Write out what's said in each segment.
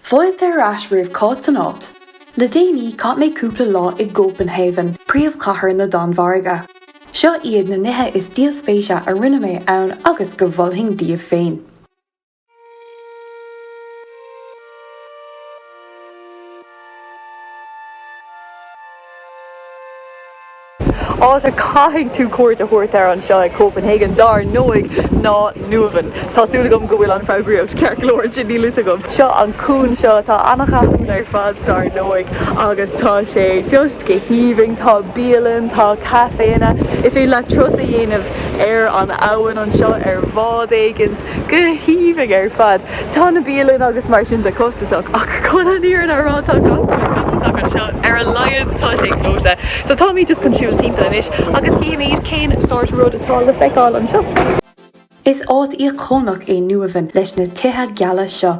Fáilte ar ais roimh Cáit san áit. Le déanaí chaith mé cúpla lá i gCópanhaven, príomhchathair na Danmhairge. Seo iad na nithe is díol spéise a rinne mé ann agus go mholfainn daoibh féin. Áit a gcaithfidh tú cuairt a thabhairt air anseo i Copenhagen, dár ndóigh, ná Nyhavn. Tá súil agam go bhfuil an foghraíocht ceart go leor ansin, níl a fhios agam. Seo an cuan seo atá an-cháiliúil ar fad, dár ndóigh, agus tá sé just go haoibhinn. Tá bialanna, tá caiféanna, is féidir leat turas a dhéanamh ar an abhainn anseo ar bhád éigin. Go haoibhinn ar fad. Tá na bialanna agus mar sin de costasach ach chun an fhírinne a rá tá gach rud costasach anseo, ar a laghad tá sé clóite. So táimid just chun siúl timpeall anois agus chífimid cén sórt rud atá le feiceáil anseo. Is áit íocónach é Nyhavn leis na tithe geala seo.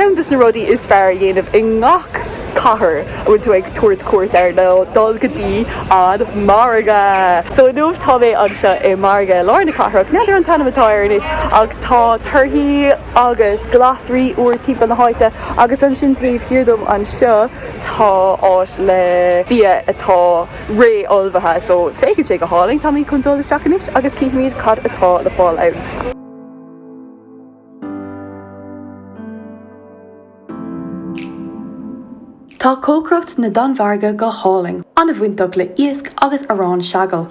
Ceann de na rudaí is fearr a dhéanamh i ngach cathair a bhíonn tú ag tabhairt cuairt air ná dul go dtí an margadh! So inniu tá mé anseo i margadh lár na cathrach, n'fheadar an t-ainm atá air anois ach tá torthaí agus glasraí úr timpeall na háite agus ansin taobh thiar díom anseo, tá áit le bia atá réamhullmhaithe so féachann sé go hálainn, táimid chun dul isteach anois agus chífimid cad atá le fáil ann. Tá cócaireacht na Danmhairge go hálainn, an-bhainteach le iasc agus arán seagal.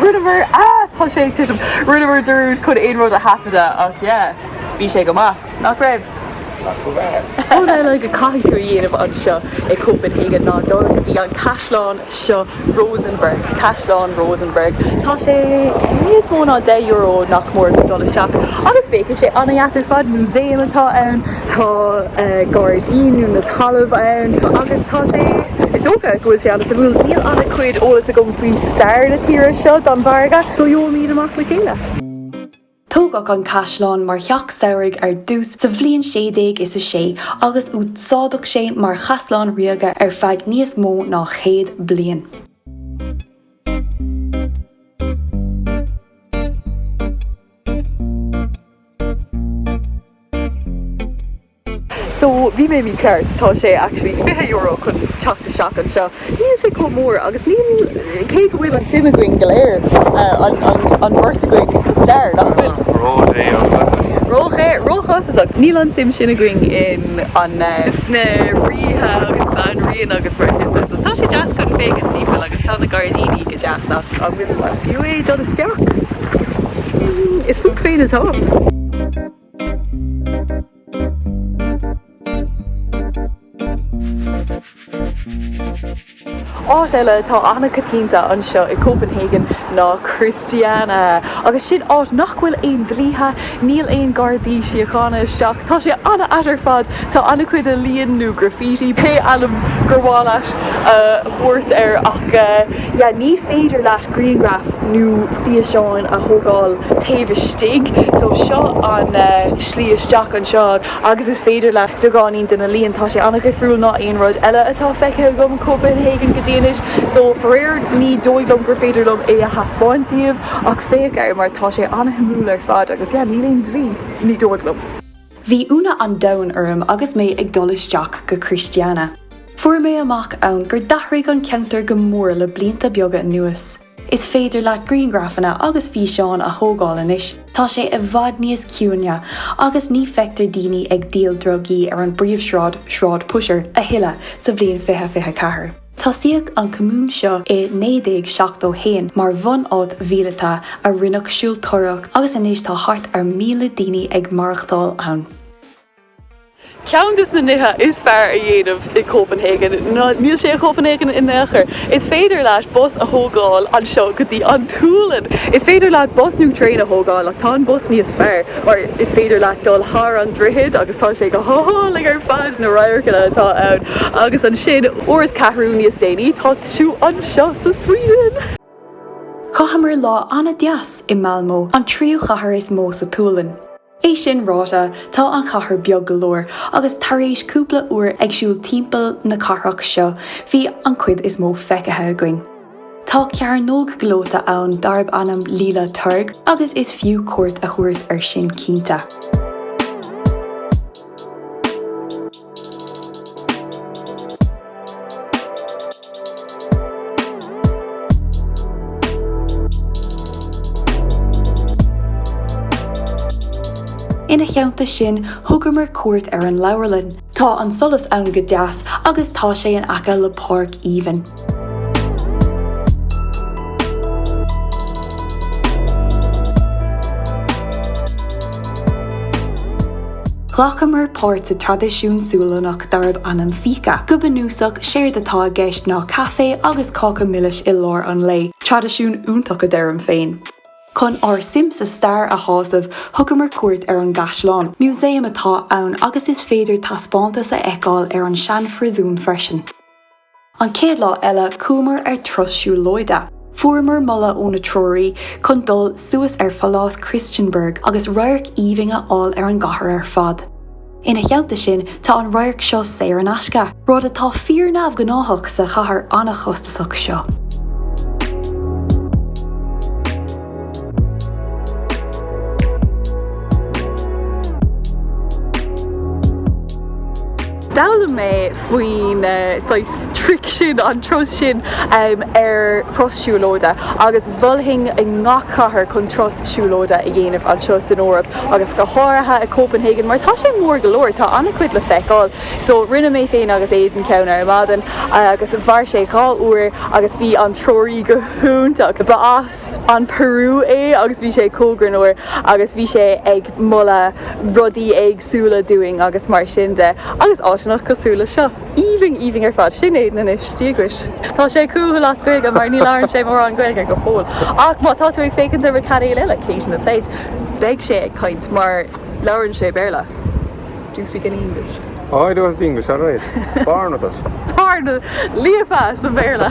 Rinneamar, ah tá sé ag titim, rinneamar dearúd chun aon rud a thaifeadadh ach yeah, bhí sé go maith, nach raibh? Not too bad. Rud eile go gcaithfidh tú a dhéanamh anseo i Copenhagen ná dul go dtí an caisleán seo Rosenborg, Caisleán Rosenborg. Tá sé níos mó ná deich euro nach mór le dul isteach agus féachann sé an-deas ar fad, músaem atá ann. tá gairdíní nó talamh ann agus tá sé, is dócha go bhfuil sé an-suimiúil. Níl an-chuid eolas agam faoi stair na tíre seo an Danmhairg, so gheobhaimid amach le chéile. Tógadh an caisleán mar theach samhraidh ar dtús sa bhliain sé déag is a sé agus úsáideadh sé mar chaisleán ríoga ar feadh níos mó ná céad bliain. So bhí mé mícheart, tá sé actually fiche euro chun teacht isteach anseo. Níl sé chomh mór agus níl, cé go bhfuil an suim againn go léir, an bheirt againn, sa stair, nach bhfuil? Róchostasach, níl an suim sin againn in an, sna ríthe agus banríona agus mar sin de. So tá sé deas chun féachaint timpeall agus tá na gairdíní go deas ach an bhfuil, an fiú é dul isteach? Is fút féin atá. Áit eile atá an-choitianta anseo i gCopenhagen ná Christiania. Agus sin áit nach bhfuil aon dlíthe, níl aon Gardaí Síochána isteach, tá sé an-ait ar fad, tá an-chuid ealaín nó graffiti, pé ainm gur mhaith leat a thabhairt air, ach yeah ní féidir leat grianghraif nó físeáin a thógáil taobh istigh. So seo an slí isteach anseo agus is féidir leat beagáinín de na ealaíon, tá sé an-dhifriúil ná aon rud eile atá feicthe agam i Copenhagen go dtí anois. So faraor ní dóigh liom gur féidir liom é a thaispeáint daoibh ach féach air mar tá sé an-shuimiúil ar fad agus yeah níl aon dlí, ní dóigh liom. Bhí ionadh an domhain orm agus mé ag dul isteach go Christiana. Fuair mé amach ann gur d'athraigh an ceantar go mór le blianta beaga anuas. Is féidir leat grianghrafanna agus físeáin a thógáil anois, tá sé i bhfad níos ciúine agus ní fheictear daoine ag díol drugaí ar an bpríomhshráid, Sráid Pusher, a thuilleadh sa bhliain 2024. Tosaíodh an común seo i 1971 mar bhunáit mhíleata a rinneadh siúltóireacht agus anois tá thart ar 1,000 daoine ag maireachtáil ann. Ceann de na nithe is fearr a dhéanamh i gCopenhagen, ná níl sé i gCopenhagen in aon chor, is féidir leat bus a thógáil anseo go dtí an tSualainn. Is féidir leat bus nó traein a thógáil ach tá an bus níos fearr. mar is féidir leat dul thar an droichead agus tá sé go hálainn ar fad, na radharcanna atá ann agus ansin uair is ceathrú níos déanaí tá tú anseo sa Sweden! Chaitheamar lá an-deas i Malmö, an tríú chathair is mó sa tSualainn. É sin ráite, tá an chathair beag go leor agus tar éis cúpla uair ag siúl timpeall na cathrach seo bhí an cuid is mó feicthe againn. Tá cearnóg gleoite ann darb ainm Lilla Torg agus is fiú cuairt a thabhairt air sin cinnte. Ina theannta sin, thugamar cuairt ar an leabharlann. Tá an solas ann go deas agus tá sé in aice le páirc aoibhinn. Ghlacamar páirt sa traidisiún Sualannach darb ainm fika. Go bunúsach séard atá i gceist ná caife agus cáca milis i lár an lae, traidisiún iontach a deirim féin. Chun ár suim sa stair a shásamh, thugamar cuairt ar an gCaisleán. Musaeum atá ann agus is féidir taispeántas a fheiceáil ar an seanphríosún freisin. An chéad lá eile, chuamar ar turas siúlóide. Fuaireamar moladh ónár treoraí chun dul suas ar Phalás Christiansborg agus radharc aoibhinn a fháil ar an gcathair ar fad. Ina theannta sin, tá an radharc seo saor in aisce, rud atá fíor-neamhghnáthach sa chathair an-chostasach seo. D'fhoghlaim mé faoin saghas tric sin, an turas sin, ar thuras siúlóide agus mholfainn i ngach cathair chun turas siúlóide a dhéanamh anseo san Eoraip agus go háirithe i Copenhagen mar tá sé mór go leor, tá an-chuid le feiceáil. So rinne mé féin agus Aidan ceann ar maidin agus mhair sé dhá uair agus bhí an treoraí go hiontach, ba as an Peru é agus bhí sé chomh greannmhar agus bhí sé ag moladh rudaí éags. súla dúinn agus mar sin de agus áiseanna cosúil le seo. Aoibhinn, aoibhinn ar fad. Sin Aidan díograis. Tá sé cúthail as Gaeilge mar ní labhrann sé mórán Gaeilge go fóill ach má tá tú ag féachaint ar mo cainéal eile, Kate in the Place, beidh sé ag caint mar labhrann sé Béarla. Do you speak any English? Oh, I do have the English, all right. Born with it. Born with it. Líofa sa Bhéarla.